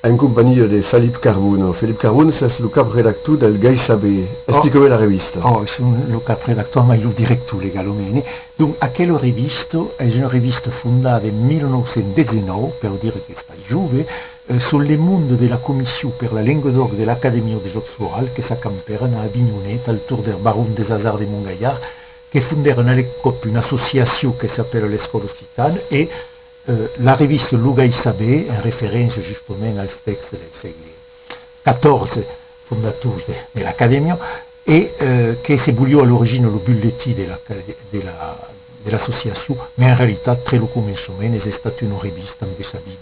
en companhia de Felip Carbonneau. Felip Carbonneau, s'es lo cap redactor del Gai Saber. Explica-me la revista. Ò, son lo cap redactor, mai lo director legal o mene. Donc, aquela revista es una revista fondada en 1919, per dire qu'estai jove, sul Le Monde de la Comission per la Lenga d'Òc de l'Acadèmia de Jòcs Florals, que s'acampèran a Avinhonet, al torn der Baron des Hasards de Montgaillard, que fondèron a l'encòp una associacion que s'apèla l'Escòla Occitana e la revista Lo Gai Saber, en referéncia justament als tèxtes del sègle xiv fondators de l'Acadèmia e que se voliá a l'origina lo bulletí de l'associacion, mas en realitat tre lo començament es estat una revista amb de s'abit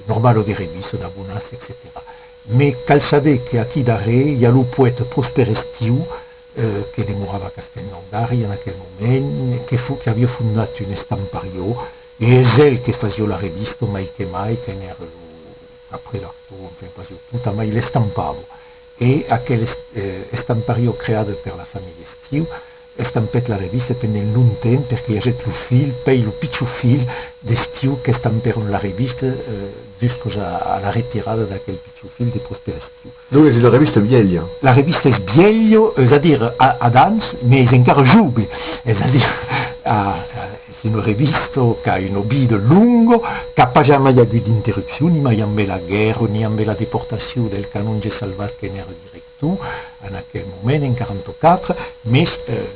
normal o de revista, d'abonats, etcetèra. Mas cal saber que aquí darrèr i a lo poèta Prosper Estiu, que demorava a Castelnaudari en aquel moment, que fo que avió fondat un estamparió, e es el que fasió la revista, mai que mai, que n'èra lo caprelector, enfin fasió tot, amai l'estampavo. E aquel estamparió creada per la familha Espriu estampèt la revista pendent longtemps, perque i agèt lo filh, pei lo pichon filh, d'Espriu qu'estampèron la revista juscos a la retirada d'aquel pichon. Su fil de prosperciu. Non es una revista vielha. La revista es vielha, es a dire a d'ans, mai es encara jove, es a dire es una revista qu'a una vida longa, qu'a pas jamai agut d'interrupcion, ni mai ambe la guèrra, ni ambe la deportacion del canonge Salvat que n'èra director en aquel moment, en 44, mes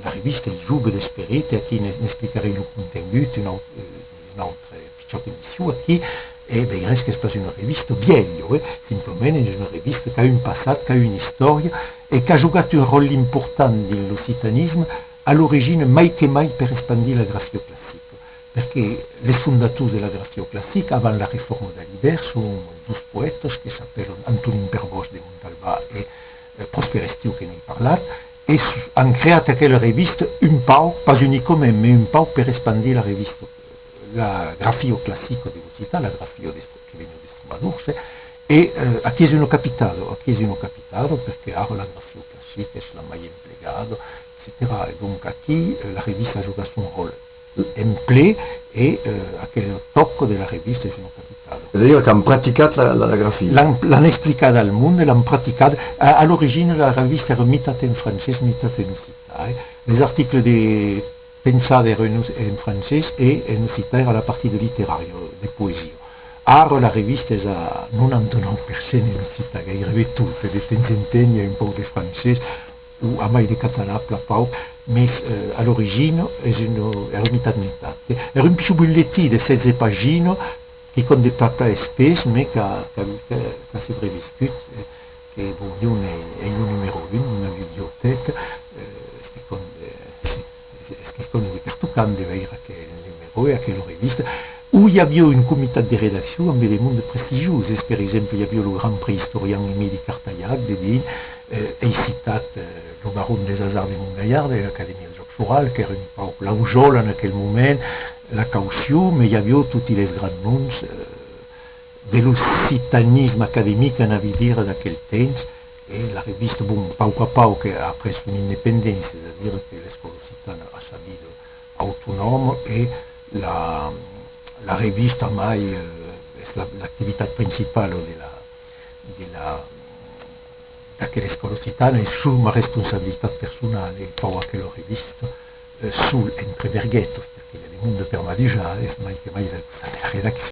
la revista es jove d'esperit e aquí n'explicarei lo contengut un autre Çò que disiu aquí e ben res qu'es pas una revista vièlha, e simplement es una revista qu'a un passat, qu'a una istòria e qu'a jogat un ròtle important dins l'occitanisme a l'origina mai que mai per espandir la grafioclassica, perque les fondators de la grafioclassica avant la reforma de l'Iber son dos poètas que s'apèlan Antonin Perbosch de Montalbà e Prosper Estiu que n'ai parlat e an creat aquela revista un pauc, pas unicament, mai un pauc per espandir la revista. La grafio classico de l'occitan, la grafio que vegn de Stromadurs, e aquí es una capitalo, aquí es una capitalo, perque ara la grafio classica es la mai emplegada, etcetèra. E donc aquí la revista joga son ròl en ple e aquel tòc de la revista es una capitalo. Es a dire qu'an practicat la grafia. L'an explicada al monde, l'an practicada. A l'origina la revista èra mitat en francés, mitat en occitan. Les articles de. Pensar de renus en francés e en occitan a la partida literària, de poesia. Ara la revista es a 99 per cent en occitan, gairebe tota, de temps en temps i a un pauc de francés o a mai de catalan, plan pauc, mes a l'origina es una, èra mitat mitat. Èra un pichon bulletí de 16 paginas, quicòm de plan plan espés, mes qu'a se reviscut. E bon, jo n'ai lo numèro un d'una bibliotèca, es quicòm de pertocant de veire aquel numèro e aquela revista, uu i aviá un comitat de redaccion ambe de monde prestigioses, per exemple, i aviá lo grand preïstorian Emili Cartailhac de Vinh, ei citat lo baron des Hasards de Montgalhard e l'Acadèmia de Jòcs Florals, qu'èra un pauc la ujola en aquel moment, la caucion, me i aviá toti les grands noms. de l'occitanisme academic en avidir d'aquel temps e la revista, bon, a pauc a pauc a après son independéncia, es a dire que l'escòla occitana a sa vida autonòma e la la revista mai es l'activitat principala de la de la d'aquela escòla occitana e sus ma responsabilitat personala e fau aquela revista sul entre verguetas perque de le monde per m'avisar es mai que mai la redaccion.